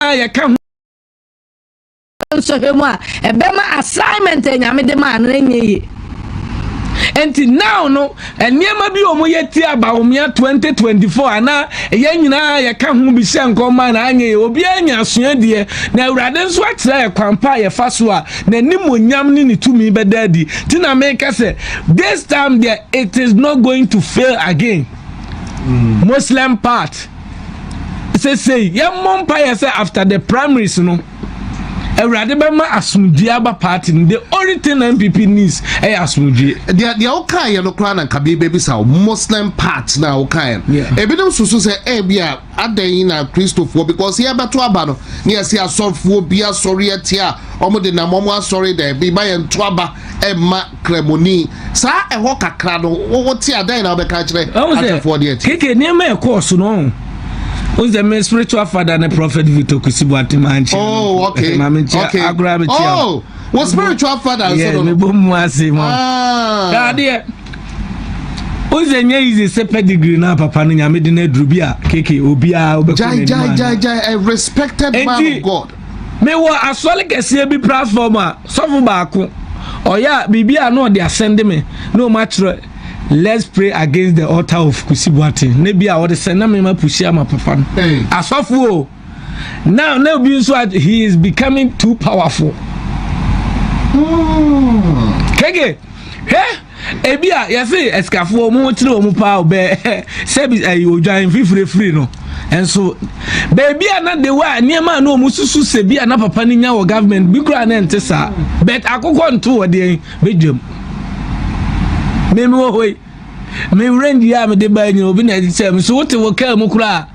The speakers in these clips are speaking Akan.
a yɛka ho nsɔhwɛ mu a ɛbɛma assignment a nyame de maa no ɛnyɛ yie nti now no nneɛma bi wɔn yɛ ti abawomia 2024 ana yɛn nyinaa yɛka ho bi hyɛ nkɔmma na anyɛ yɛ obiara nya asua deɛ na awurade nso akyerɛ yɛ kwan pa a yɛfa so a n'anim onyam ne ne tumi bɛda adi ti na meka sɛ this time deɛ it is not going to fail again mm. muslim part sesei yɛmmɔ mpaeɛ sɛ after the primaries no awurade bɛma asomdwie aba party no the only thing na npp needs ɛyɛ eh, asomdwie deɛ deɛ wokaeɛ no koraa na nka bɛbisa wo muslim part na wokaeɛ no ebinom susu sɛ ebi a adɛn na kristofoɔ because yɛbɛto aba no ne yɛse asɔfoɔ bi asɔre atia a wɔde nam wɔn asɔre dɛ bi ma yɛnto aba ɛmma Kramoni. Saa ɛhɔ kakra no, wote a dɛn na wobɛka akyerɛ atɛfoɔ deɛ ti? Keke nneɛma ɛkɔɔ so no wọn sɛ mi spiritual father ne prophet Victor Kwesi Boateng maa nkyɛn oh okay maame nkyɛn agorɔ abɛ kyɛn oh wɔ spiritual father nso no yɛ mebɔ mu ase mu adeɛ wọn sɛ nyɛ yi sɛ pedigree na papa no nyame de na aduru bi a keke obiara ɔbɛkɔ n'anim ano jai jai jai a respected man of God Mewɔ asɔre kɛseɛ bi platform a sɔfo baako ɔyɛ a biribi a na ɔde asɛnde me na wɔn akyerɛ let's pray against the altar of Kusi Boateng na bi a ɔde sɛn na mema pusi ama papa no asɔfo o now na obi nso he is becoming too powerful hmm. kege hwɛ Ebi a yɛse asikafoɔ wɔn ho kyerɛ wɔn paa o bɛɛ sɛbi ɛyi odwan fifirifiri no nso beebi a na de wɔ a nneɛma a na wɔn susu sɛ bi a na papa no nya wɔ government bi koraa na nte saa but akokɔ nto wɔ deɛ bedwam mmemme wɔ hɔ yi me range yi a mede baa nyina obi na ɛde kyɛ me so wote wɔ kaa mu koraa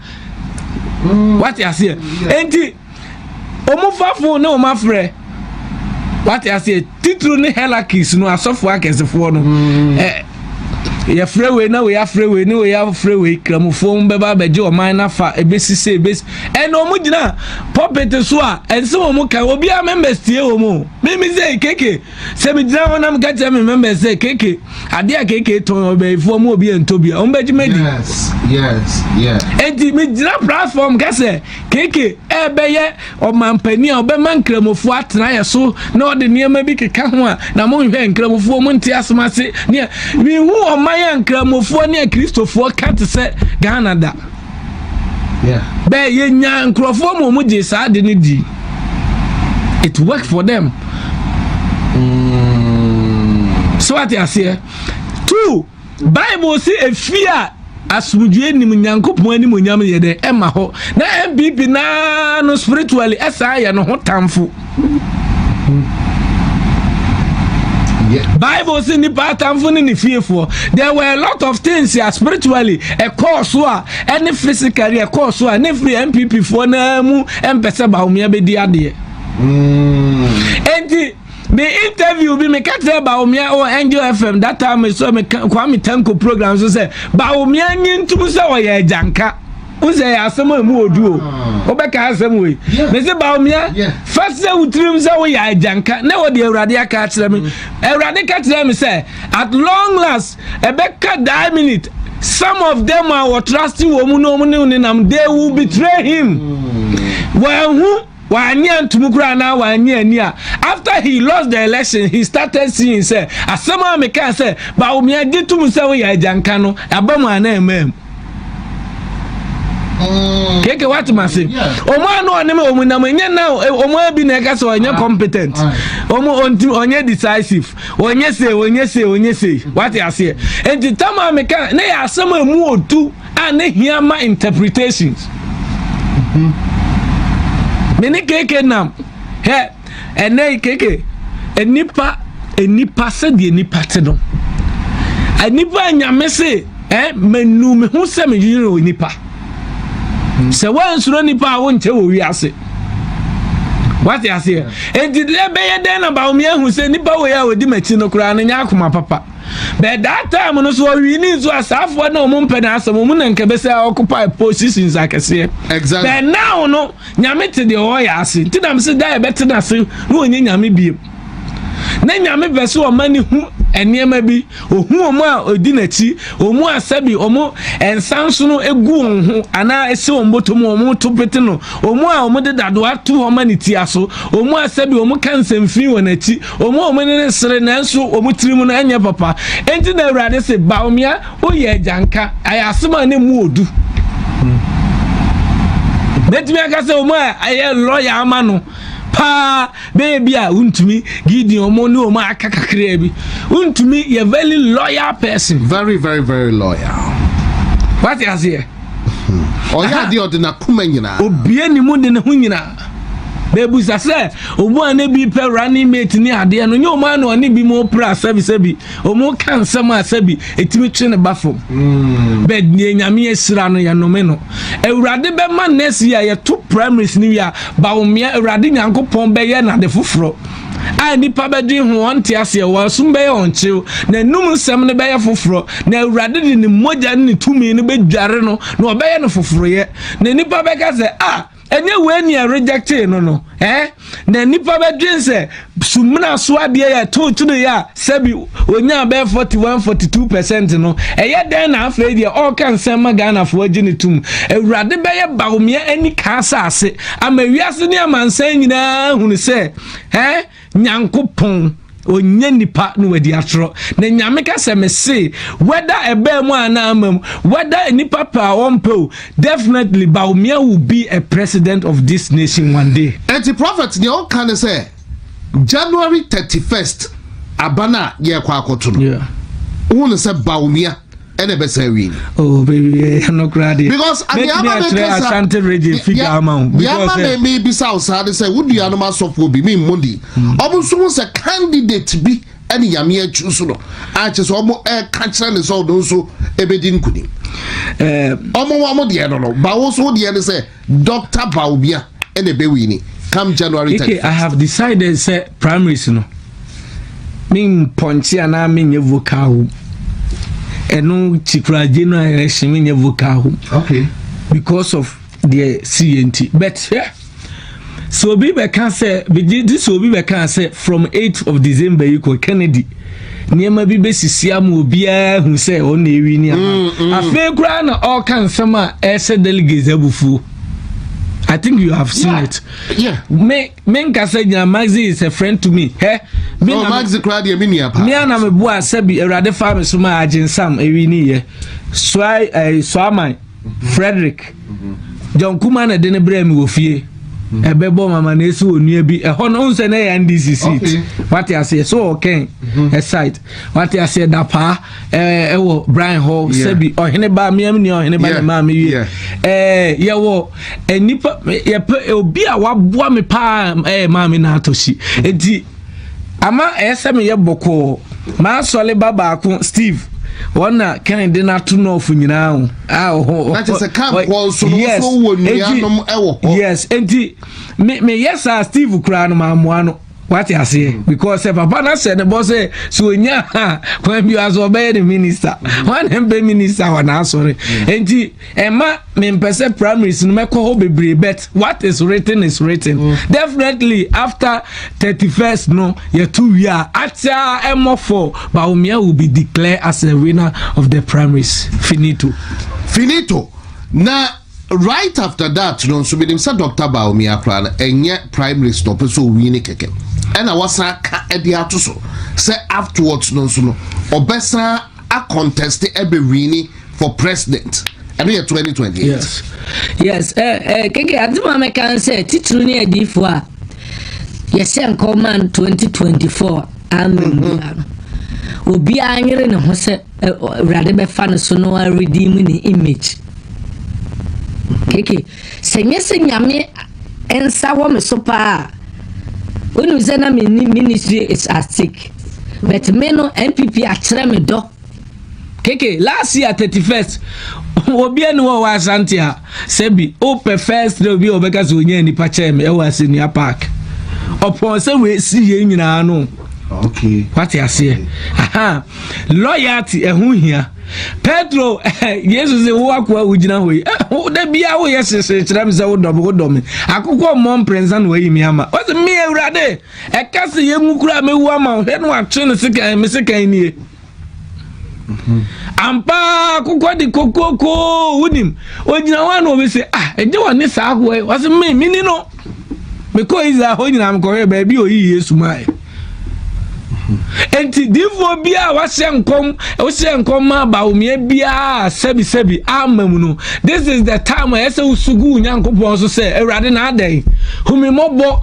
wate aseɛ enti. wɔn fafo ne wɔn afrɛ wate aseɛ titiri ne helakis no asɔfo akɛsefoɔ no mm. eh, yɛfrɛ wei na wei afrɛ wei ne wei afrɛ wei kramofoɔ mu bɛba abɛgye ɔman no afa ɛbɛsi sɛ ɛbɛsi ɛna wɔn gyina pɔpɛte so a ɛnsɛ wɔn ka obiara members tie wɔn o mimi sɛ keke Sɛ me gyina hɔ na meka kyerɛ me members sɛ keke ade a keke tɔn ɔbɛyifoɔ mu obi ɛntɔ bi a wɔn bɛgye madi enti megyina platform ka sɛ keke ɛbɛyɛ ɔmampanin a ɔbɛma nkramofoɔ atena yɛ so na ɔde nneɛma bi keka ho a na monhwɛ nkramofoɔ mu nte asem ase nea mehu ɔman a nkramofoɔ ne akristofoɔ ka te sɛ ghana da bɛɛ yɛnya nkurɔfoɔ ma wɔn gye saa ade no di it work for them mm. so ate aseɛ two bible si efie a asomdwoe nim nyankopɔn anim onyam yɛ dɛ ɛma hɔ na mpp naa no spiritually ɛsan yɛ no ho tamfo bible si nipa atamfo ne ne fiefoɔ there were a lot of things a spiritually ɛkɔɔ so a ɛne physically ɛkɔɔ so a ne firi npp foɔ naa mu ɛmpɛ sɛ baomia bɛdi adeɛ enti me interview bi meka kyerɛ baomia wɔ angel fm that time so meka kwame tanko program so sɛ baomia nye ntum sɛ ɔyɛ agyanka wosɛ yɛ asɛm a ɛmu wɔ du o wobɛka asɛm wei mese baomia fa sɛ wo tirim sɛ woyɛ agyanka na wɔde awurade aka akyerɛ me awurade ka kyerɛ me sɛ at long last ɛbɛka daa minute some of them a wɔtrust wɔ mu na ɔmo ne nenam they will betray him wɔahu Wannye antom koraa anaa wannye ani a after he lost the election he started seeing sɛ asɛm a mekaa sɛ Bawumia gye tom sɛ woyɛ agyanka no aba mu anaa ɛmaa mu. Mm. keke wate ma se ɔmo ano ɔne me ɔmo nam ɛnyɛ na ɔmo abi na ɛka sɛ ɔnyɛ ah. competent ɔmo ɔnti ɔnyɛ decisive ɔnyɛ se ɔnyɛ se ɔnyɛ se wate aseɛ nti tam a meka ne yɛ asɛm a emu otu a na hia ma interpretations mm-hmm. me ne keke nam hɛ ɛnɛ yi keke nnipa nnipa sɛdeɛ nnipa te no nnipa nyame se eh, manu me ho sɛ medwene wɔ nnipa mm-hmm. sɛ woansuro nnipa a wonkyɛ wɔ wiase wate aseɛ enti deɛ bɛyɛ dɛn na bawomi ahu sɛ nnipa wei a wɔdi m'akyi no koraa no nyɛ akoma papa But that time no so ɔwii ne nso asaafoɔ na wɔn mpɛ n'asɛm wɔn na nkɛbɛ sɛ occupy positions akɛseɛ. Exactly. But now no nyame te deɛ ɔyɛ ase nti na sɛ da yɛbɛ te n'ase na wɔnyɛ nyame bie. Na nyame pɛ sɛ ɔma ne hu nneɛma bi ohu wɔn a odi n'akyi wɔn a sɛbi wɔn nsansono egu wɔn ho anaa esi wɔn bɔtɔ mu wɔn to pete no wɔn a wɔn de dadoa to wɔn ani tia so wɔn a sɛbi wɔn ka nsɛmfin wɔn akyi wɔn a wɔn ani no sere nanso wɔn tirim no nyɛ papa enti na awurade se baomia woyɛ agyanka ayɛ asem a ne mu odu bɛtumi aka sɛ wɔn a ɛyɛ lɔya ama no paa bɛyɛ bi a wontumi gideon wɔn ne wɔn a aka kakraa bi wontumi yɛ very loyal person very very very loyal wate aseɛ ɔyɛ adeɛ ɔde n'akoma nyinaa obie ne mu de ne ho nyinaa Bɛbisa sɛ ɔmu a ne bi pɛ running mate ne adeɛ no nyɛ ɔmu a na ɔne bi mu pra sɛbisɛbi ɔmu ka nsɛm a sɛbi ɛtumi twe ne ba fam hmm. bɛ deɛ nyame ahyira no yɛnome no awurade bɛma next year yɛto primaries no wie a bawomea awurade nyankopɔn bɛyɛ nade foforɔ a nipa bɛdwe ho wɔn te aseɛ wɔn som bɛyɛ wɔn kyew na enum nsɛm no bɛyɛ foforɔ na awurade de ne mogya ne ne tumi no bɛdware no na ɔbɛyɛ no foforoyɛ na nipa bɛka sɛ a ah, Ɛnyɛ wei ni a rejectee no no eh? Na nipa bɛdwen sɛ sumina so adeɛ yɛ to kyene yɛ a sɛbi onyaa bɛyɛ 41 42 percent no ɛyɛ dɛn na afei deɛ ɔreka nsɛm ma Ghanafoɔ agye ne tom awurade bɛyɛ bawomeɛ ani kaa saase ama wiase ne amansan nyinaa hunu sɛ eh Nyankopɔn ɔnyɛ nnipa na wadi atorɔ na nyame ka sɛ mese wɛda ɛbaa mu anaa ama mu wɛda nnipa pɛ a ɔmpɛ o definitely Bawumia will be a president of this nation one day Enti prophet nea ɔka ne sɛ January 31st aba no a yɛrekɔ akɔto no Yeah. wohu no sɛ Bawumia. ɛna ɛbɛsan awie ni. oh baby eh, ɛno koraa deɛ because mɛtumi akyerɛ asante regye figa ama wo because yɛma eh, mɛmɛ bisa wo saa de sɛ wo nuanom asɔfoɔ bi me mmɔ di hmm. ɔmo nso ho sɛ candidate bi ɛne nyame akyi so no akyɛ sɛ ɔmo ɛka kyerɛ ne sɛ ɔno nso ɛbɛdi nkunim eh, ɔmo wɔn deɛ no no ba wo so deɛ no sɛ Doctor Bawumia na ɛbɛwini come January thirty first. Ike I have decided sɛ primaries no me mpɔnkye anaa me nyɛ vocal wom ɛno kyikura January election me nyɛ vocal wom okay. because of deɛ si yɛ nti but hwɛ yeah, sɛ obi bɛka sɛ megye di sɛ obi bɛka sɛ from 8 of December yi kɔ Kennedy nneɛma bi bɛsisi ama obiara ahu sɛ ɔno na ɛwi nneɛma mm, mm. afei koraa na ɔreka nsɛm a ɛsɛ delegates abufuo I think you have seen yeah. it. Yeah. Me me nkasa gyina Maxi is a friend to me. Hɛ. Me oh, na Maxi kura deɛ mi ni apa. Mi ana mi bu asɛbi Awurade fa mi so ma agye nsam ewi ni yɛ. Soa ɛɛ soa man. Frederick, John Kuma na ɛde no brɛ me wɔ fie ɛbɛbɔ mama na esi wɔ nua bi ɛhɔ no nsɛ na ɛyɛ ndc seat wate aseɛ so ɔkɛn ɛsite wate aseɛ dapaa ɛɛ ɛwɔ brian hɔ sɛbi ɔhene ba mmea mi nua ɔhene ba ne maa mi wie ɛɛ yɛwɔ nipa yɛpɛ obi a waboa mi paa ɛɛ maa mi na atɔ si eti ama ɛyɛ sɛ meyɛ bɔkɔɔ m'asɔre ba baako steve wɔn na kɛn de n'ato nɔɔfo nyinaa ho a ɔhɔ ɔhɔ n'akyɛ sɛ kan kɔ nso no nso wɔ nuanom ɛwɔ hɔ yes nti me me yɛ saa steve koraa no maa mmoa no wate aseɛ mm. because sɛ papa no ahyɛ ne bɔ sɛ sɛ ɔnya a kwan bi aso ɔbɛyɛ ne minister mm. wane mpɛ minister wɔ n'asɔre mm. nti ɛma mempɛ sɛ primaries no mɛkɔ hɔ bebree but what is written is written mm. definitely after thirty first no yɛto wie a akyɛ ɛmɔfo baomia will be declared as a winner of the primaries finito finito na right after that no nso menim sɛ dr baomia koraa no ɛnyɛ primaries na ɔpɛ sɛ ɔwi ne kɛkɛ ɛna wasan ka ɛde ato so sɛ afterwards no nso no ɔbɛsan a contest ɛbɛ wini for president ɛno yɛ twenty twenty eight. yes yes ɛɛ eh, ɛɛ eh, keke adi maa mi kan sɛ titiri ni adiifo a yɛhyɛ nkɔman twenty twenty four ama mhm. obiara no obiara nyere ne ho sɛ awurade bɛfa ne so no a redeem ne image keke Sɛ nnyɛ sɛ Nyame nsa wɔ me so paa a, wonim sɛ na menni ministry is at stake. But me no, NPP akyerɛ me dɔ. KK, last year 31st, obi ani wɔ wɔ Asante a, sɛ bi, wopɛ first day obi a wɔbɛka sɛ onyaa nipa kyɛɛ me ɛwɔ Asɛnnua Park. Ɔpɔn sɛ wɔasi yɛn nyinaa no. Okay. What you say? Aha. Loyalty ɛho eh, hia. Pedro eh, Yesu sɛ wo akoa wo gyina hɔ yi. Eh, da bia wo yɛ sese kyerɛ me sɛ wo dɔ me wo dɔ me. Akokɔ mmɔ mprɛnsa na wayi me ama. Ɔsɛ me awurade. Ɛka sɛ yɛngu kura me wu ama wo. Hwɛ no atwe no sekan me sekan nie. ampa kokɔ de kokoko wonim ogyina hɔ a na obi sɛ ah ɛnyɛ wɔn ne saa ahoɔ yi wɔsɛ me me ni no mekɔ israel hɔ nyinaa mekɔhwɛ baabi a oyi yesu maa yɛ nti difoɔ bi a wahyɛ nkɔm wohyɛ nkɔm ma bawomeɛ biara sɛbisɛbi ama mu no this is the time a ɛsɛ wosugu wo nyankopɔn so sɛ awurade na adɛn hu me mmɔbɔ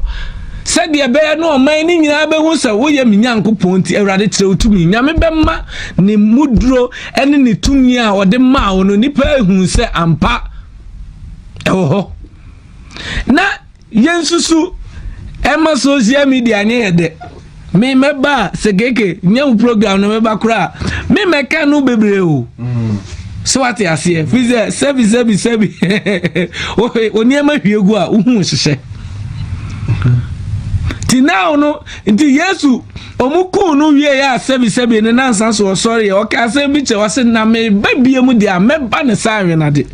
Sɛdeɛ ɛbɛyɛ na ɔman no nyinaa bɛhu sɛ woyɛ me Nyankopɔn nti, Awurade kyerɛ wo tumi. Nyame bɛma ne muduro ne ne tumi a ɔde maa wo no nnipa ahu sɛ ampa ɛwɔ hɔ. Na yɛnsusu ɛma social media nyɛ yɛ dɛ. me mɛba a sɛ keke nyɛ wo program no mɛba koraa a me mɛka no bebree o sɛ wate aseɛ firi sɛ sɛbi sɛbi sɛbi onneɛma hwie gu a wohu hyehyɛ nti now no nti yesu ɔmo kuu no wie yɛ a sɛbi sɛbi ne nansa so ɔsɔre yɛ ɔka asɛm bi kyɛ ɔse na meba bie mu deɛ a mɛba ne saa awenade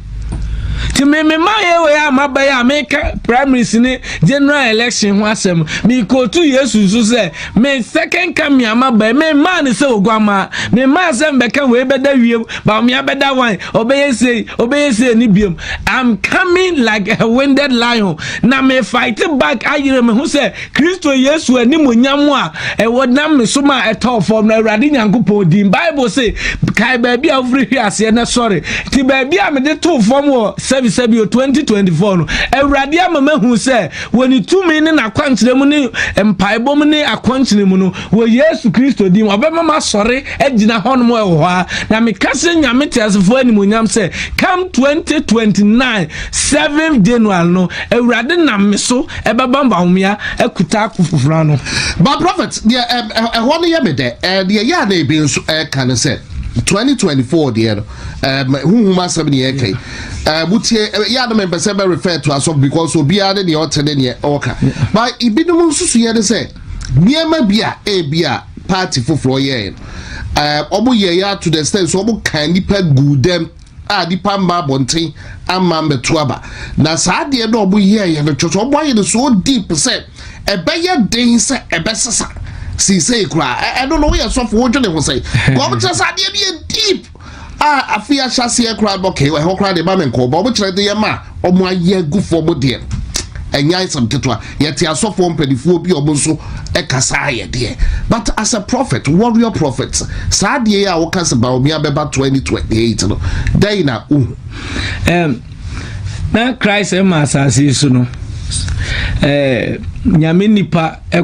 nti me me mayɛ wei a maba yi a meka primaries ne general election ho asɛm mekootu yesu nso sɛ me second coming a maba yi memmaa ne sɛ oguamaa memmaa sɛ mbɛka wei bɛda wiem baomea bɛda wan ɔbɛyɛ sei ɔbɛyɛ sei ne biom i'm coming like a winded lion na me fight back ayerɛ me ho sɛ Kristo Yesu animuonyam a ɛwɔ nam ne som a ɛtɔɔ fam no, Awurade Nyankopɔn din. Bible se, kae baabi a wofiri hwe aseɛ na sɔre. Nti baabi a mede too fam wɔ Sɛbisɛbio 2024 no, Awurade ama mahu sɛ wɔ ne tumi ne n'akwankyerɛ mu ne mpaebɔ mu ne akɔnkyene mu no, wɔ Yesu Kristo din, ɔbɛma masɔre agyina hɔnom ɛwɔ hɔ a, na meka sɛ Nyame teasefoɔ animuonyam sɛ, come 2029 7th January no, Awurade nam me so Ɛbɛba mma homea akuta akofoforo ano. But prophet deɛ ɛm ɛ ɛhɔ no yɛ me dɛ ɛɛ deɛ ɛyɛ a na ebi nso ɛɛka no sɛ twenty twenty four deɛ no ɛm huhum asɛm ne yɛɛka yi ɛɛ wotie ɛ yɛ a na mempɛ sɛ bɛ refer to asɔfo because obiara ne deɛ ɔte ne deɛ ɔɔka but ebinom nsusuiɛ ne sɛ nneɛma bi a ebi a party foforɔ yɛɛ no ɛɛ wɔn yɛɛ yɛ to the extent sɛ wɔn kan nipa guu dɛm. a nipa mma abɔnten ama mmɛto aba na saa adeɛ no a wɔn yɛ yɛ no kyerɛ sɛ wɔn ayɛ no so deep sɛ ɛbɛyɛ den sɛ ɛbɛsesa siisei koraa ɛno no woyɛ sɔfo wodwene ho sɛ wɔn kyerɛ sɛ adeɛ no yɛ deep a afei ahyɛ aseɛ koraa no kɛyɛ ɛhɔ koraa de ma me nkɔɔ ba wɔn kyerɛ de yɛ ma wɔn ayɛ gu fam deɛ ɛnyɛ ayɛ sɛm ketewa Yɛte asɔfoɔ mpanifoɔ bi a ɔmo nso kasa ayɛ deɛ but as a prophet warrior prophet saa deɛ yi a woka sɛ Bawumia bɛba 2028 no dɛn na wohu? Um, na Christ ɛma asase so no eh, nyame nipa eh,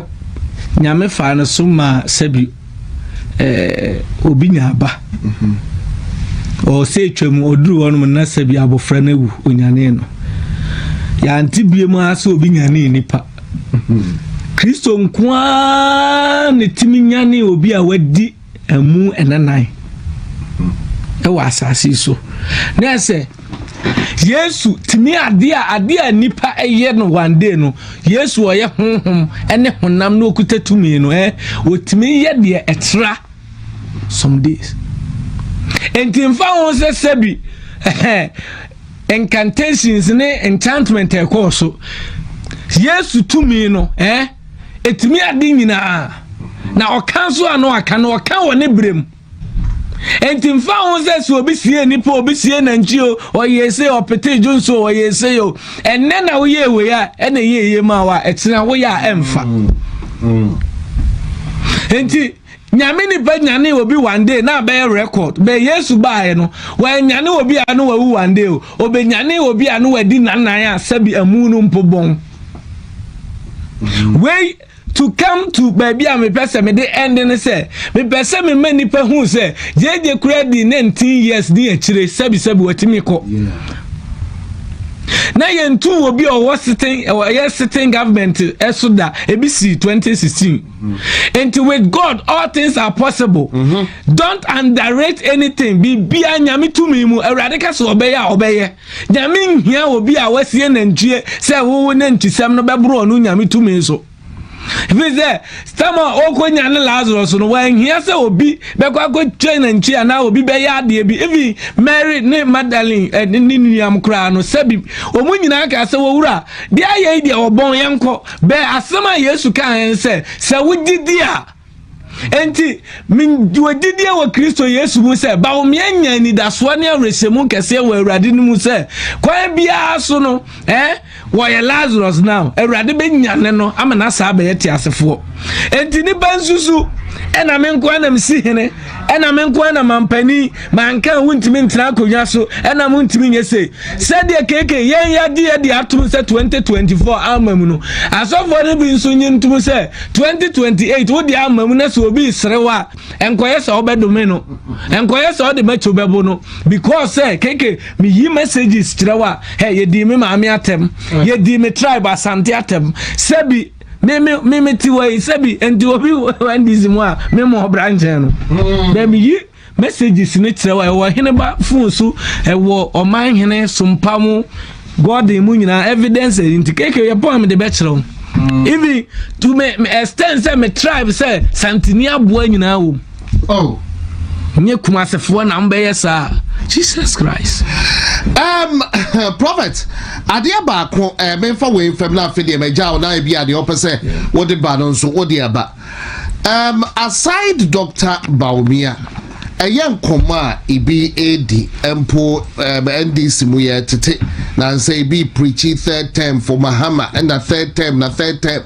nyame fa no so ma sɛbi eh, obi nya aba ɔsɛ atwa mu ɔduru hɔ nom na sɛ bi abɔfra no awu onyane no yɛante bie mu ara sɛ obi nyane nipa kristo nko ara ne tumi nyane obi a wadi ɛmu ɛnanan ɛwɔ asase so na ɛsɛ Yesu tumi adeɛ a adeɛ a nipa yɛ no one day no Yesu ɔyɛ honhom ne honam na okuta tumi no ɛ otumi yɛ deɛ ɛtra some days nti nfa ho sɛ sɛbi ɛhɛn incantations ne enchantment ɛkɔɔ so Yesu tumi no ɛ etumi ade nyinaa na ɔka nso a na ɔka no ɔka wɔ ne berɛ mu. Enti mfa ho sɛ sɛ obi sie nipa obi sie nantwi o ɔyɛ ese ɔpete dwo nso ɔyɛ ese o ɛnɛ na woyɛ ewe a ɛna ɛyɛ eye ma wa ɛkyerɛ woyɛ a ɛnfa enti nyame nipa nyane obi one day na abɛyɛ record bɛ yesu baayɛ no wɔanyane obi a no wawu one day o obenyane obi a no wadi nanan a sɛbi amu no mpo bɔn wei To come to baabi a mepɛ sɛ mede ɛnde ne sɛ mepɛ sɛ mema nnipa hu sɛ gyegye kura di 19 years ne akyire sɛbisɛbi watumi kɔ na yɛntu obi a ɔwɔ sitting ɛyɛ sitting government ɛso da ebi si 2016 nti with god all things are possible mm-hmm. don't underrate anything biribiara nyame tumi mu awurade ka sɛ ɔbɛyɛ a ɔbɛyɛ Nyame nhia obi a wasie nantwie sɛ wowo nantisɛm no bɛboro ɔno Nyame tumi so. Ɛfiri sɛ, sɛm a ɔkɔnya ne Lazarus no, wanhia sɛ obi bɛkɔ akɔtwa nantwie anaa obi bɛyɛ adeɛ bi. Ebi Mary ne Magdalene eh, ne ne nuam koraa no, sɛbi wɔn nyinaa kaa sɛ, wɔwura, deɛ ayɛ yi deɛ ɔbɔn yɛnkɔ. Bɛɛ asɛm a Yesu kaa yɛn sɛ, sɛ wogye di a, Enti, mewɔ gyidie wɔ Kristo Yesu mu sɛ baomea nya anidasoɔ ne awerɛhyɛmu kɛseɛ wɔ Awurade no mu sɛ kwan biara so no eh, wɔyɛ Lazarus no a Awurade bɛnyane no ama no asaa abɛyɛ teasefoɔ. Enti nnipa nsusu ɛna me nkoa na mesi hene ɛna me nko na mampani manka wontumi ntena akonnwa so ɛna montumi nyɛ sei sɛdeɛ keke yɛn yɛde yɛde atom sɛ 2024 ama mu no asɔfoɔ no bi nso nye ntom sɛ 2028 wode ama mu na sɛ obi serew a nkɔyɛ sɛ wobɛdome no nkɔyɛ sɛ wode mɛkyo bɛbo no because sɛ keke meyi messages kyerɛ wo a hey, yɛdii me maame atɛm yɛdii me tribe asante atɛm sɛbi Me me me me ti wɔ yi sɛbi nti obi wɔ ndc mu a me mo ɔbra nkyɛn no. Bɛn mi yi messages ne kyerɛ wa ɛwɔ hene ba fon so ɛwɔ ɔman hene sompa mu gɔden mu nyinaa evidence ɛyi nti keke yɛ pɔn mi de bɛ kyerɛ wo. Even to me extend sɛ me tribe sɛ santini aboa nyinaa wɔ mu. Oh. Nye kumasefoɔ na mbɛyɛ saa. Jesus Christ. Um, prophet, adeɛ baako eh, memfa wei mfam na afei deɛ magya wo na ebi adeɛ ɔpɛ sɛ wode ba no nso wode aba. Um, aside Dr. Baumia, ɛyɛ nkɔmmɔ a ebi edi mpo um, NDC mu yɛ tete na nsɛ ebi preachi third term for Mahama ɛna third term na third term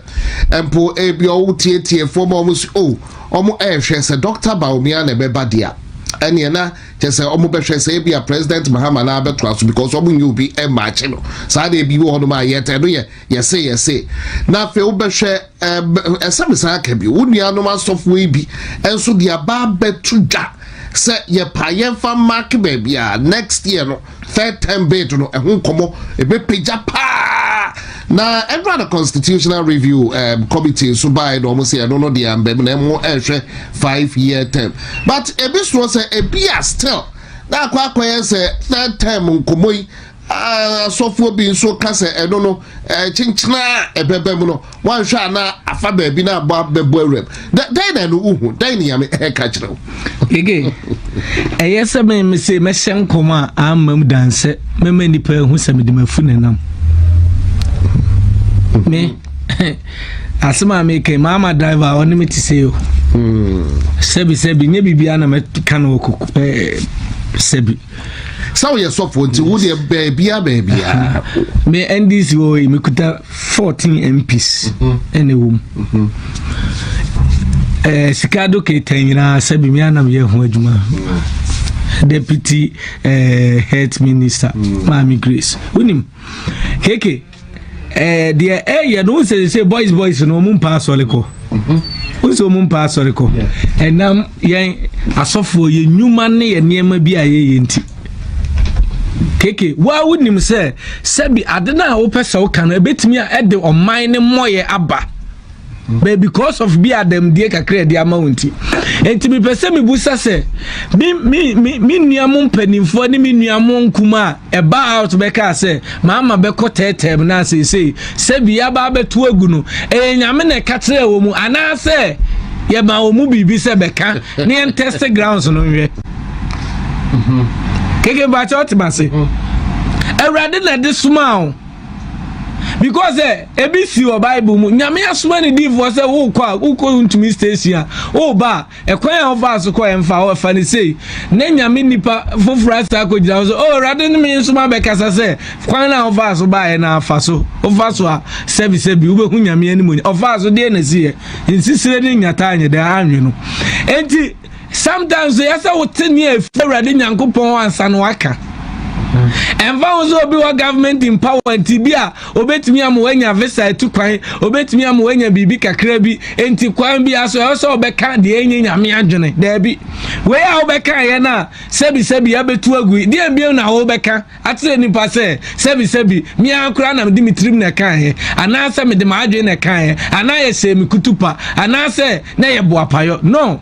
mpo ebi ɔwo tietiefoɔ ma wɔn si o. Oh, Wɔrehwɛ sɛ Dɔkta Bawumia na ɛbɛba de a, ɛneɛ na kyerɛ sɛ wɔbɛhwɛ sɛ ebia President Mahama no ara bɛtoa so because wɔnyɛ obi mmaakye no. Saa deɛ bi wɔ hɔnom a yɛtɛ no yɛ yɛse yɛse. Na afei wobɛhwɛ ɛɛ ɛsɛ mesan aka bi wo nuanom asɔfoɔ yi bi nso de aba abɛto dwa sɛ yɛpa yɛmfa mark baabi a next year no third term bid no ɛho nkɔmɔ ɛbɛpagya paa na ɛdura no constitutional review um, committee nso bae na wɔn sɛ ɛno no deɛ ambam na ɛmo ɛhwɛ five year term but ebi soɔ sɛ ebi a still na akɔ akɔyɛ sɛ third term nkɔmɔ yi asɔfoɔ bi nso ka sɛ ɛno no kyenkyena a ɛbɛbɛ mu no Woanhwɛ a na afa baabi na abɔ abɛbɔ awuram. Dɛn na ɛno wohu? Dɛn ne Nyame ɛka kyerɛ wo? Gege, ɛyɛ sɛ me me se mɛhyɛ nkɔm a amma mu dan sɛ mɛma nnipa ahu sɛ mede mafu ne nam. Me, asɛm a meka maama driver a ɔne me te sɛ o. Sɛbi sɛbi, nyɛ biribiara na mɛka no wɔ koko sɛbi. Sɛ woyɛ sɔfoɔ nti, wodeɛ baabia baabia. Me NDC wɔ yi, mekuta 14 MPs ɛna ɛwɔ mu ɛɛ sika do keta nyinaa sɛbi mi anam yɛ ho adwuma deputy ɛɛ health minister maame grace wonim keke ɛɛ deɛ ɛyɛ no sɛ sɛ boys boys no wɔn mpa asɔre kɔ wosɛ wɔn mpa asɔre kɔ ɛnam yɛn asɔfoɔ yɛn nnwuma ne yɛn nneɛma bi a yɛyɛ nti. keke wo a wonim sɛ sɛbi ade no a wopɛ sɛ woka no ɛbɛtumi a ɛde ɔman no mmɔyɛ aba but because of bi adamdie kakra ɛde ama wo nti nti mepɛ sɛ mebusa sɛ me me me me nua mo mpanimfoɔ ne me nua mo nkum a ɛba out bɛka sɛ maama bɛkɔ tɛɛtɛɛm no aseesei sɛ bi aba abɛto agu no ɛyɛ nyame na ɛka kyerɛ wɔ mu anaasɛ yɛma wɔ mu biribi sɛ bɛka ne ɛntɛste grounds no nhwɛ mhm. keke mpakyɛ ɔte ma se mhm. awurade na ɛde soma o because ɛ eh, ebi si wɔ bible mu nyame asoma ne diifoɔ sɛ wokɔ a wokɔ ntumi station a woba a ɛkwan a wofa so kɔ ɛmfa hɔ ɛfa ne sei na nyame nipa foforɔ asa akɔgyina ho so o oh, awurade ne me nsoma bɛkasa sɛ kwan a wofa so baeɛ na afa so wofa so a sɛbisɛbi wobɛhu nyame anim ɔfa so deɛ na siyɛ nsisire ne nyataa nyɛ dɛ anwe no enti Sometimes yɛ sɛ wote ne a ɛfiri Awurade Nyankopɔn hɔ ansa na waka. Ɛmfa ho sɛ obi wɔ government empowerment bi a obetumi ama wanya visa atu kwan, obetumi ama wanya biribi kakra bi, nti kwan bi aso ɛwɔ sɛ ɔbɛka deɛ ɛnyɛ nyame adwene. Daabi. Wei a wobɛka yɛ no a sɛbisɛbi abetu agu, deɛ bio na wobɛka? akyerɛ nnipa sɛ sɛbisɛbi me ara koraa na mede me tirim na ɛkaeɛ anaasɛ mede m'adwene na ɛkaeɛ anaa yɛhyɛɛ me kutupa anaasɛ na yɛ boapayɔ no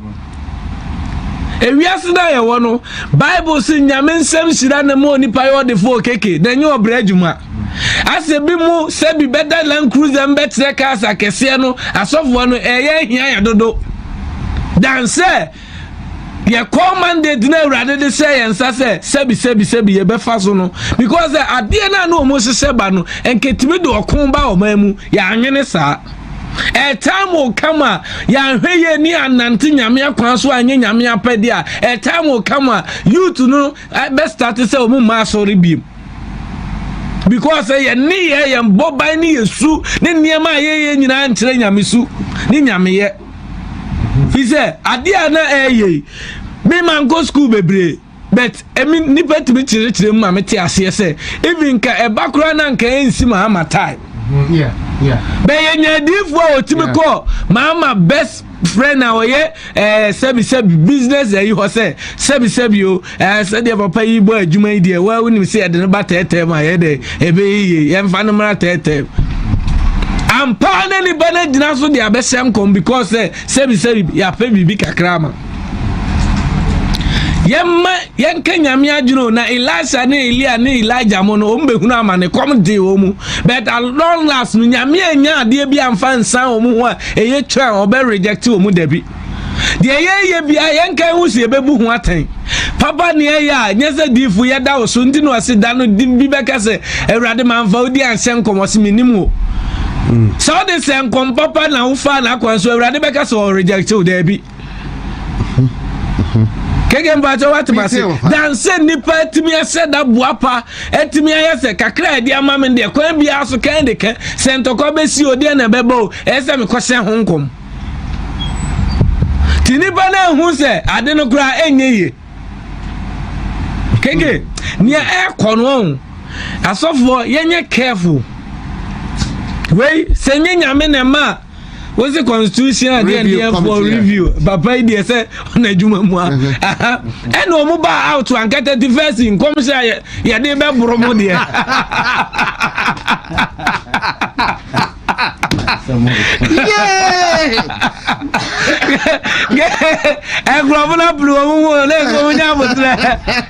ewiase no a yɛwɔ no bible se nyame nsɛm hyira na ma onipa yɛ ɔdefoɔ keke na ɛnyɛ ɔbrɛ adwuma asɛ bi mu sɛ bi bɛda land cruiser bɛkyerɛ cars akɛseɛ no asɔfoɔ no ɛyɛ hia yɛ dodo dan sɛ yɛkɔɔ mandate na awurade de hyɛ yɛn nsa sɛ sɛbi sɛbi sɛbi yɛbɛfa so no because sɛ adeɛ no a na wɔn hyehyɛ ba no nketumi de ɔko ba ɔman mu yɛanwene saa ɛtaa mo kam a yɛanhwɛ yie ne anante nyame akwan so anyɛ nyame apɛdeɛ a ɛtaa mo kam a youth no bɛstate sɛ wɔn mma asɔre biem because eh, yɛn nneyɛ yɛn bɔban ne yɛsu ne nneɛma a yɛyɛ nyinaa nkyerɛ nyamesu ne nyameyɛ fi sɛ adeɛ a na ɛyɛ yi me ma nkɔ sukuu bebree but ɛmi nipa tumi kyerɛkyerɛ mu ma me te aseɛ sɛ even nka ɛba koraa na nka ɛnsi ma ama time mm-hmm. bɛyɛ nyadiifoɔ a ɔtumi kɔ ma ama best friend a ɔyɛ ɛɛ eh, sɛbisɛbi business ɛyi hɔ sɛ sɛbisɛbi o ɛɛ sɛdeɛ papa yi bɔ adwuma yi deɛ waa wonim sɛ yɛde no ba tɛɛtɛɛ mu a yɛ dɛ ɛbɛyɛ yie yɛmfa no mmra tɛɛtɛɛ ampa na ne ba no agyina so de abɛhyɛ nkɔm because sɛ eh, sɛbisɛbi yɛapɛ biribi kakra ma yɛmma yɛnka nyame adwene o na elisa ne elia ne elija mo no wɔn bɛhunu ama ne kɔm de wɔn mu but at long last no nyame anya adeɛ bi amfa nsan wɔn ho a ɛyɛ twa a ɔbɛ reject wɔn dabi deɛ yɛyɛ biara yɛnka ho sɛ yɛbɛbu ho atɛn papa ne ɛyɛ a nyɛ sɛ diifo yɛda wo so nti na ɔse da no di bi bɛka sɛ awurade mamfa wo di anhyɛ nkɔm ɔse menim o sɛ wode sɛ nkɔm papa na wofaa n'akwan so awurade bɛka sɛ ɔrejɛkte wo daabi keke mpatsɛ wate ma se dansɛ nipa atumi ahyɛ da boa pa atumi ayɛ sɛ kakra ɛde ama me deɛ kwan biara so kɛn de kɛn sɛ ntɔkwa bɛsi o deɛ na ɛbɛbɔ o ɛyɛ sɛ mekɔhyɛ ho nkɔm Ti nipa no ahu sɛ ade no koraa ɛnyɛ yie. Keke, nea ɛkɔ no ɔn, asɔfoɔ yɛnyɛ careful. Wei, sɛ nye nyame na ɛma a, wosi constitution adeɛ ndeɛ for review. Papa yi deɛ sɛ ɔna adwuma mu a. Ɛna ɔmo ba out anka 31st nkɔmhyɛ a yɛde bɛboro mo deɛ. nkurɔfo no apere wɔn mu na ɛsɛ wɔn nya abotire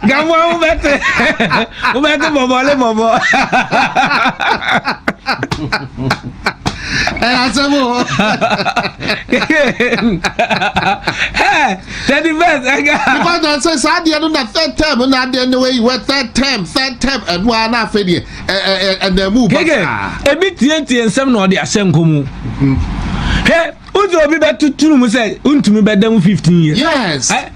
gamu a wobɛte wobɛte bɔbɔle bɔbɔ ɛyɛ asɛm o thirty first ɛga nipa na sɛ saa adeɛ no na third term na adeɛ no wɔ yi wɔ third term third term ɛno ara na afɛ deɛ ɛdan mu ba saa. ebi tietie nsɛm na ɔde ahyɛ nkɔ mu. hɛ wodze obi bɛtotoro mu sɛ ntumi bɛda mu fifteen years. yes. Eh?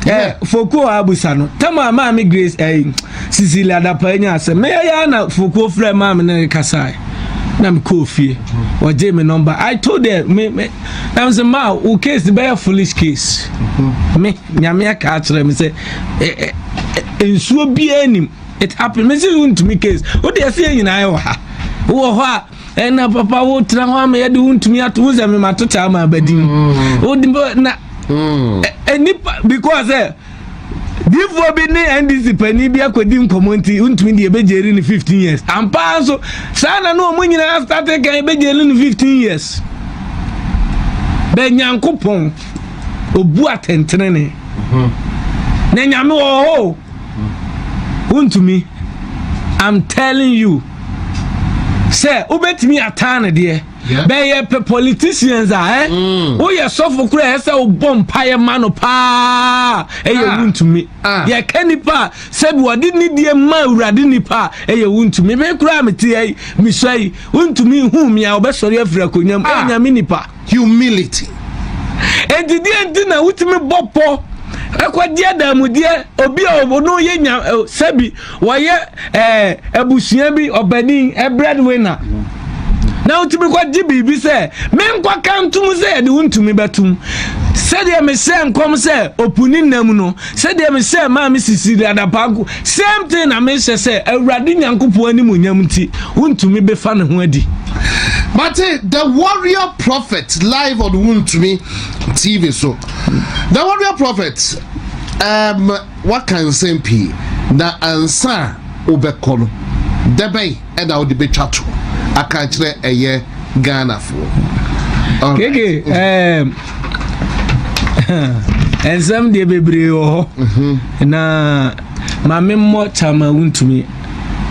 Eh, fokuo abusa no tama maame grace eh, sisili adapa anya asɛm meyɛ yɛ na fokuo frɛ maame no kasae na mekɔɔ fie ɔgye me number i told her me me na mesɛ ma wo case bɛyɛ foolish case me nyame aka akyerɛ me sɛ nsuo biaa nim it happen me se wontumi case wode ɛsɛ yɛ nyinaa wɔ ha wowɔ hɔ a ɛna papa wotra hɔ ama yɛde wontumi ato wo sɛ memato kyɛ ama abadin mm. na mm. nipa because ɛ eh, difoɔ bi ne ndc pani bi akɔdi nkɔmmɔ nti wontumi deɛ ɛbɛgyeri no 15 years ampaa nso saa na ne ɔmo nyinaa starte kan ɛbɛgyeri no 15 years bɛ nyankopɔn ɔbu atɛntenene mm-hmm. na nyame wɔ hɔ wontumi i'm telling you sɛ wobɛtumi ataa no deɛ bɛyɛ pɛ politicians a ɛ eh? mm. woyɛ sɔfo kora ɛ sɛ wobɔ mpaeɛ ma no paa ɛyɛ ah. wontumi ah. yɛka nnipa a sɛbi wɔde nidie ma awurade nnipa a ɛyɛ wontumi me koraa meteɛ yi mesua yi wontumi hu me a wɔbɛsɔre afiri akonnwam ɛnyame ah. nnipa humility. Enti deɛ nti na wotumi bɔ pɔ ɛkɔgye adamudeɛ obi a ɔno yɛ nya sɛbi wɔyɛ ɛɛ abusua bi ɔbanin ɛbrɛd wina na wotumi kɔgye biribi sɛ menkɔka ntom sɛ yɛde wontumi bɛtom sɛdeɛ mehyɛ nkɔm sɛ opuni nam no sɛdeɛ mehyɛɛ maa me sisiri adapaa nko same thing na mehyɛ sɛ awurade nyankopɔn anim nyam nti wontumi bɛfa ne ho adi But eh, the warrior prophet live on Wuntumi TV so. The warrior prophet um waka nsɛm pii na ansa wobɛkɔ no dɛbɛn ɛna wode bɛtwa to aka akyerɛ ɛyɛ ghanafoɔ keke um, nsɛm deɛ bebree wɔ hɔ mhm. na ma memmɔ kyama wontumi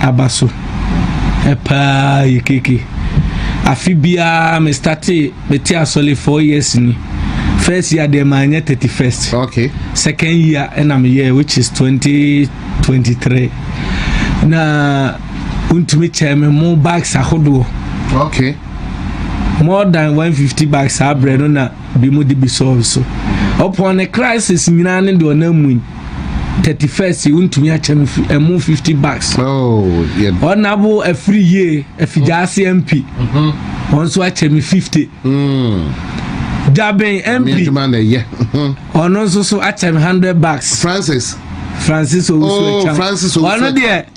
aba so paa yɛ keke afe biara me starte mete asɔle four years ni first year deɛ maanyɛ thirty first okay. second year ɛna meyɛ which is twenty twenty three na wontumi kyɛn me mo bags ahodoɔ okay more than 150 bags saa berɛ no na bi mu de bi sɔɔ so ɔpɔn ne crisis nyinaa ne deɛ ɔnam mu yi 31st wontumi akyɛ me ɛmo 50 bags ɔnabo afiri yie afigya ase mp wɔn nso akyɛ me 50 Jabin MP ɔno nso so akyɛ me 100 bags Francis Francis Owusu Echam ɔno deɛ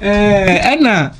Ɛɛ ɛna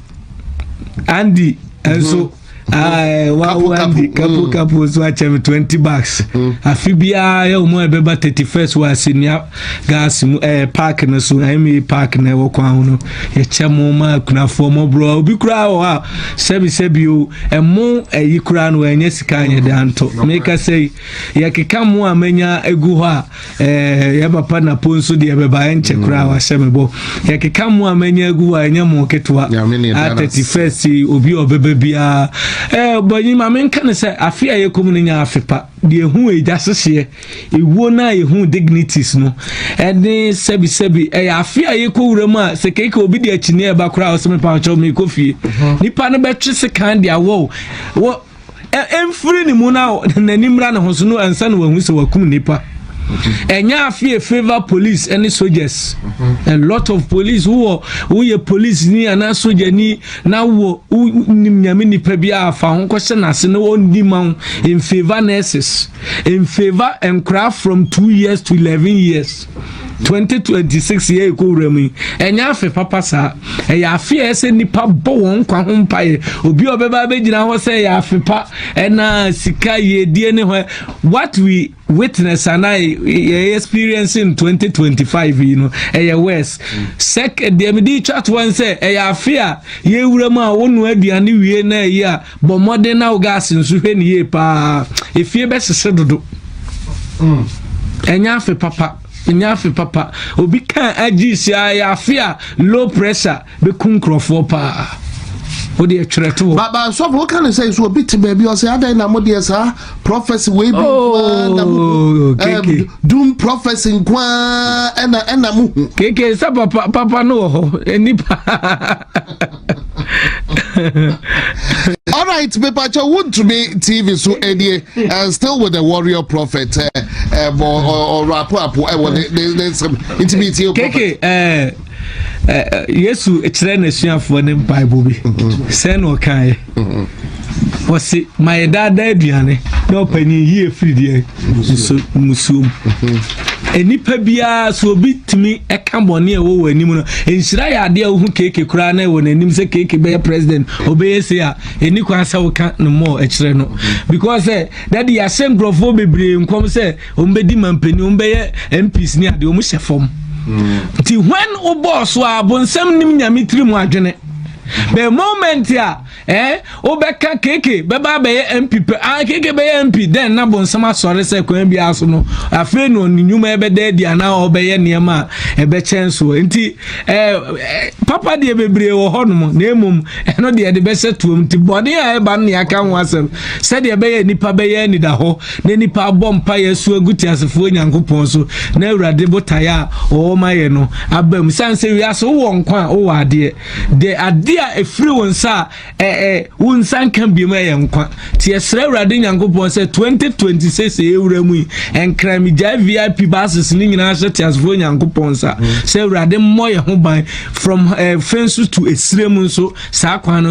Andy nso. Mm -hmm. Eh, kapo mm. kapo nso akyɛ me twenty bucks mm. afe biara yɛ wɔn a ɛbɛba thirty first wɔ asenia gas mu ɛɛ eh, park no so ɛma eh, park na ɛwɔ kwan ho no yɛkyɛ mo ma akunafoɔ mo borɔ obi koraa wɔ hɔ a sɛbi sɛbi o ɛmo ɛyi koraa no ɛnyɛ sika anyɛ de anto meka sɛ yɛkeka mo a manya egu hɔ a. Eh, yɛ papa na po nso deɛ bɛba ɛnkyɛ mm. koraa wahyɛ me bɔ yɛkeka mo a manya agu hɔ a ɛnyɛ mo ketewa a 31 obi a ɔbɛba biara eh, bɔnyi ma menka ne sɛ afe a yɛkɔm no nya afe pa deɛ ɛhu agya sehyeɛ ɛwuo no a yɛhu dignities no ɛne sɛbisɛbi ɛyɛ afe a yɛkɔ wura mu a sɛ keika obi de akyinneɛ ɛba koraa ɔsɛ mepakyɛw mekɔ fie mhm. nipa no bɛtwe sekan de awɔ mfiri ne mu na n'ani mmra ne ho so no ansa na wahu sɛ wakum nipa ɛnyɛ afei favor police ne soldiers a lot of police wowɔ woyɛ police ni anaa soldier ni na wɔ wonim nyame nipa bi a fa ho kɔhyɛ n'ase na ɔndi ma wo in favor nurses in favor nkora from two years to eleven years 2026 yɛ ɛkɔ wura mu yi ɛnyɛ afe papa saa ɛyɛ afe a ɛsɛ nipa bɔ wɔn nkwa ho mpaeɛ obi a ɔbɛba abɛgyina hɔ sɛ ɛyɛ afe pa ɛna sika yɛdie ne hɔ what we witness ana yɛ experience in 2025 yi no ɛyɛ worse sɛ deɛ mede twa toɔ sɛ ɛyɛ afe a yɛwura mu a wonoa aduane wie na ɛyi a Bɔ mmɔden na wo gas nso hwɛ ne yie paa. Efie bɛsese dodo. Mm. Ɛnyɛ afe papa. Ɛnyɛ afe papa. Obi kan agye si a ɛyɛ afe a low pressure bɛku nkurɔfoɔ paa. O deɛ twerɛ to hɔ. Baba nsɔfo o kan sɛ so obi te baabi ɔsɛ adɛn na mo deɛ saa prophecy wei bi nkoa na mo oh, eh, doom prophecy nkoa ɛna ɛna mo hu. Keke sɛ papa papa no wɔ hɔ nipa. All right, me pacha won't to me TV so any eh, and eh, still with the warrior prophet eh eh or rapo apo eh what they they some intimate you prophet. Eh, eh, Yesu kyerɛ n'asuafoɔ ne mpaebɔ bi sɛ na ɔkaeɛ Ɔse ma yɛdaadaa aduane na ɔpanyin yie firi deɛ nso musuo mu. Nnipa biara so obi tumi ɛka bɔne a ɛwɔ wɔn anim no nhyira yɛ adeɛ a wohu keeke koraa na ɛwɔ n'anim sɛ keeke bɛyɛ president ɔbɛyɛ se a ɛni kwan sɛ woka no mmɔɔ ɛkyerɛ no because sɛ dade yɛahyɛ nkurɔfoɔ bebree nkɔm sɛ wɔn bɛdi ma mpanyin wɔn bɛyɛ mps ne adeɛ wɔn hyɛ fam nti when wobɔɔ so a bonsam nim nyame tiri mu adwene the moment a eh, wobɛka keke bɛba bɛyɛ mp pɛ ah, keke bɛyɛ mp dɛn na bonsam asɔre sɛ kwan biara so no afei na ɔne nnwuma ɛbɛda adi anaa ɔbɛyɛ nneɛma a ɛbɛkyɛn soɔ nti eh, eh, papa deɛ bebree wɔ hɔ nom na mmom ɛno deɛ de bɛhyɛ toam nti bɔne a ɛba no ne aka ho asɛm sɛdeɛ ɛbɛyɛ nnipa bɛyɛ anida hɔ na nnipa abɔ mpaeɛ asu agu teasefoɔ Nyankopɔn so na Awurade botaeɛ a ɔwɔ ma yɛ no aba mu sane sɛ wiase wowɔ nkwa a wowɔ adeɛ de adeɛ a ɛfiri wo nsa a ɛɛ wo nsa nka biom ɛyɛ nkwa nti yɛsrɛ Awurade Nyankopɔn sɛ 2026 ɛwura mu yi ɛnkran megyae VIP bases ne nyinaa hyɛ teasefoɔ Nyankopɔn sa sɛ Awurade mmɔ yɛ ho ban from uh, fenso to esire mu nso saa kwan no